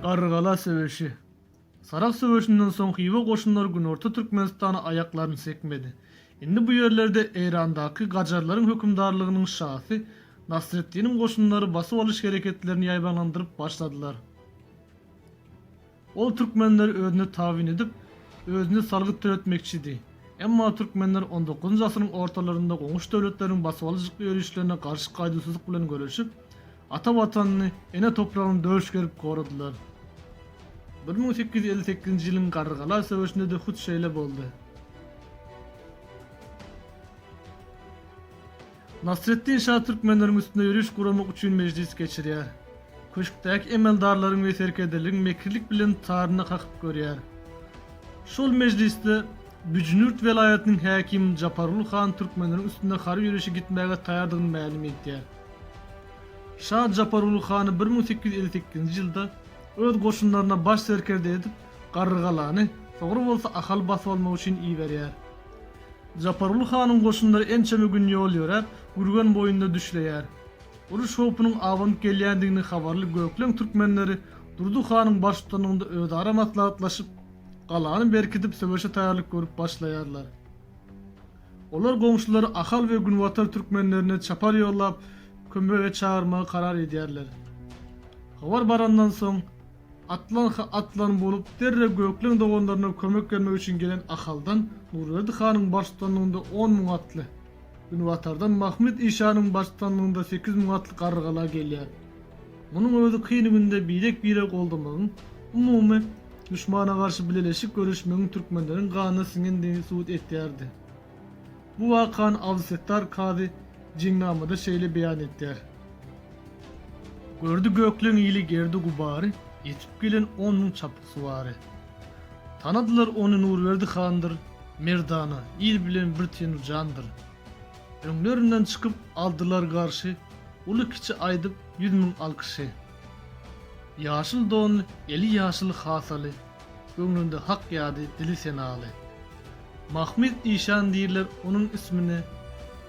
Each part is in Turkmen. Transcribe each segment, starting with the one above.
Garrygala söweşi. Sarahs söweşinden soň Hywa goşunlary günorta Türkmenistana aýaklaryny sekmedi. Indi bu ýerlerde Eýrandaky gajarlaryň hökümdarlygynyň şasy Nasreddiniň goşunlary basyp alyş hereketlerini ýaýbaňlandyryp başladylar. Ol türkmenleri özüne tabyn edip, özüne salgyt töletmekçidi. Emma türkmenler on dokuzynjy asyryň ortalarynda goňşy döwletleriň basybalyjykly ýörişlerine garşy gaýduwsyzlyk bilen göreşip, ata Watanyny, ene topragyny döş gerip goradylar. Bir müň sekiz ýüz elli sekizinji ýylyň Garrygala söweşinde-de hut şeýle boldy. Nasreddin şa türkmenleriň üstüne ýöriş guramak üçin mejlis geçirýär. Köşkdäki emeldarlaryň we serkerdeleriň mekirlik bilen taryna kakyp görýär. Şol mejlisde Büjnürt welaýatynyň häkimi Japargul han türkmenleriň üstüne harby ýörişe gitmäge taýardygyny mälim edýär. Şa Japargul hany bir müň sekiz ýüz elli sekizinji ýylda öz goşunlaryna baş serkerde edip Garrygalany, soňra bolsa Ahaly basyp almak üçin iberýär. Japaruly hanyň goşunlary ençeme gün ýol ýöräp, Gürgen boýunda düşleýär. Uruş howpunyň abanyp gelýändigini habarly gökleň türkmenleri Durdy hanyň baştutanlygynda özara maslahatlaşyp, galany berkidip söweşe taýýarlyk görüp başlaýarlar. Olar goňşulary Ahal we Günbatar türkmenlerine çapar ýollap, kömege çagyrmagy karar edýärler. Habar barandan soň. Atlanha atlan bolup, derrew Gökleň doganlaryna kömek bermek üçin gelen Ahaldan Nurberdi hanyň baştutanlygynda on müň atly, günbatardan Mahmyt işanyň baştutanlygynda sekiz müň atly Garrygala gelýär. Munuň özi kyn günde birek-bire goldamagyň, umumy, duşmana garşy bileleşik göreşmegiň türkmenleriň ganyna siňendigini subut etýärdi. Bu wakany Abdysettar kazy Jinnamada şeýle beýan etýär. Gördi gökleň ili gerdi-gubary, ýetip gelen on müň çapyksuwary. Tanadylar ony Nurberdi handyr, merdana, il bilen bir tenu jandyr. Öňlerinden çykyp, aldylar garşy, uly-kiçi aýdyp, ýüz müň alkyşy. Ýaşyl donly, eli ýaşyl hasaly, Göwnünde hak ýady, dili senaly. Mahmyt işan diýirler onuň ismine,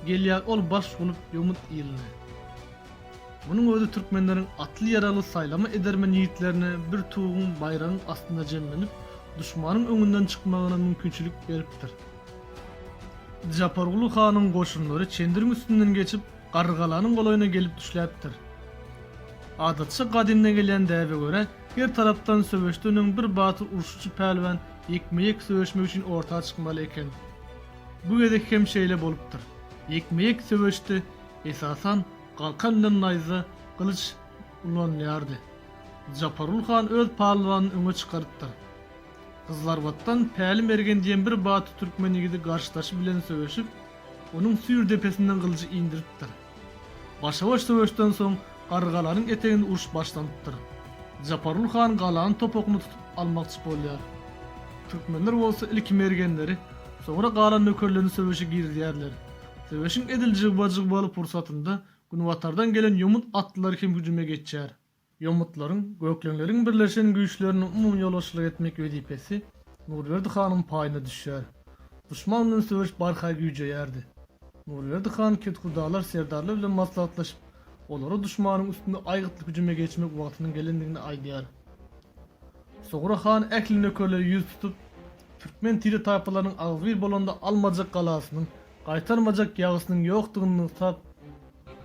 Gelýär ol baş bolup ýomut iline. Munuň özi türkmenleriň atly-ýaragly saýlama edermen ýigitlerine bir tuguň, baýragyň astynda jemlenip, duşmanyň öňünden çykmagyna mümkinçilik beripdir. Japarguly hanyň goşunlary Çendiriň üstünden geçip, Garrygalanyň golaýyna gelip düşläpdir. Adatça gadymdan gelýän däbe görä, her tarapdan söweşden öň bir batyr urşuçy pälwan ýekme-ýek söweşmek üçin orta çykmaly eken. Bu gezek hem şeýle bolupdyr. Ýekme-ýek söweşde, esasan, galkan bilen naýza, gylyç, ulanylýardy. Japargul han öz palwanyny öňe çykarypdyr. Gyzlarbatdan Päli mergen diýen bir batly türkmen ýigidi garşydaşy bilen söweşip, onuň süýr depesinden gylyjy indiripdir. Başa-baş söweşden soň, Garrygalanyň eteginde uruş başlanypdyr. Japarul han galanyň topugyny tutup almakçy bolýar. Türkmenler bolsa ilki mergenleri, soňra galan nökerlerini söweşe girizýärler. Söweşiň edil jygba-jygbaly pursatynda günbatardan gelen ýomut atlylary hem hüjüme geçýär. Ýomutlaryň, gökleňleriň birleşen güýçlerine umumyýolbaşçylyk etmek wezipesi Nurberdi hanyň paýyna düşýär. Duşman bilen söweş barha güýjeýärdi. Nurberdi han kethudalar serdarlar bilen maslahatlaşyp, olara duşmanyň üstüne aýgytly hüjüme geçmek wagtynyň gelendigini aýdýar. Sogra han ähli nökerleri ýüz tutup, türkmen tire-taýpalarynyň agzybir bolanda almajak galasynyň, gaýtarmajak ýagysynyň ýokdugyny nygtap,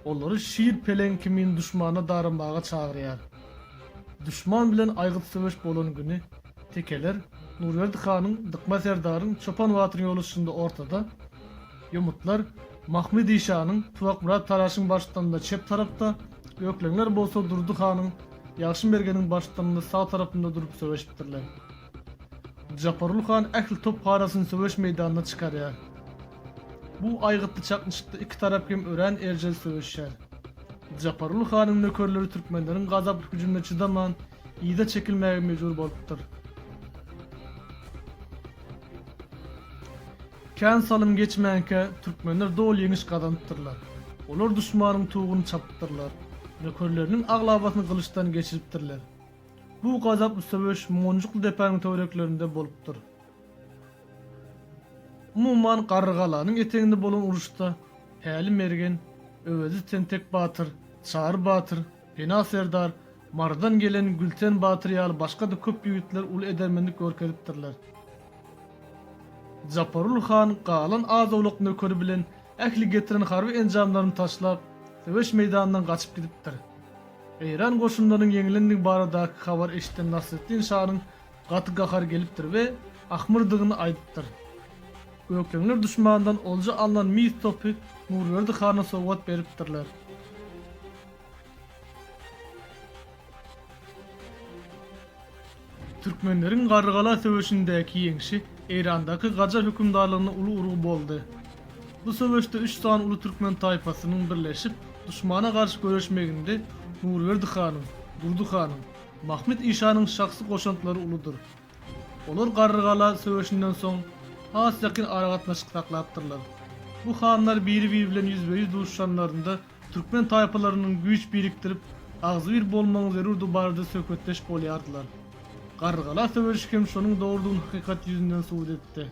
Olary şir-peleň kimin duşmana daramaga çagyrýar. Duşman bilen aýgyt söweş bolan güni tekeler Nurberdi hanyň, Dykma serdaryň, Çopan batyryň ýoluşşynda ortada, ýomutlar Mahmydy şanyň, Tuwakmyrat Taraşyň baştdanynda çep tarapda, ökleňler bolsa Durdy hanyň, Ýagşymergeniň baştdanynda sag tarapynda durup söweşipdirler. Japarly han ähli topbarasyny söweş meýdanyna çykarýar. Bu aýgytly çaknyşykda iki tarap hem örän erjel söweşýär. Japarly hanyň nökerleri türkmenleriň gazaply hüjümine çydaman, yza çekilmäge mejbur bolupdyr. Kän salym geçmänkä, türkmenler doly ýeňiş gazanypdyrlar. Olar duşmanyň tuguny çapypdyrlar. Nökerleriniň aglabasyny gylyçdan geçiripdirler. Bu gazaply söweş Monjukly depäniň töwereklerinde bolupdyr. Umuman, Garrygalanyň eteginde bolan uruşda Päli mergen, Öwezi tentek batyr, Çary batyr, Pena serdar, Marydan gelen Gülten batyr ýaly başga-da köp ýigitler uly edermenlik görkezipdirler. Japarul han galan az-owlak nökeri bilen ähli getiren harby enjamlaryny taşlap, söweş meýdanyndan gaçyp gidipdir. Eýran goşunlarynyň ýeňilendigi baradaky habary eşiden Nasreddin şanyň gaty gahary gelipdir we ahmyrdygyny aýdypdyr. Gökleňler duşmandan olja alnan mis topy Nurberdi hana sowgat beripdirler. Türkmenleriň Garrygala söweşindäki ýeňşi Eýrandaky Gajar hökümdarlygyna uly urgy boldy. Bu söweşde üç sany uly türkmen taýpasynyň birleşip, duşmana garşy göreşmeginde Nurberdi hanyň, Durdy hanyň, Mahmyt işanyň şahsy goşantlary uludyr. Olar Garrygala söweşinden soň has ýakyn aragatnaşyk saklapdyrlar. Bu hanlar biri-biri bilen ýüzbe-ýüz duşuşanlarynda Türkmen taýpalarynyň güýç birikdirip, agzybir bolmagyň zerurdygy barada söhbetdeş bolýardylar. Garrygala söweşi hem şonuň dogrudygyny hakykat ýüzünden subut etdi.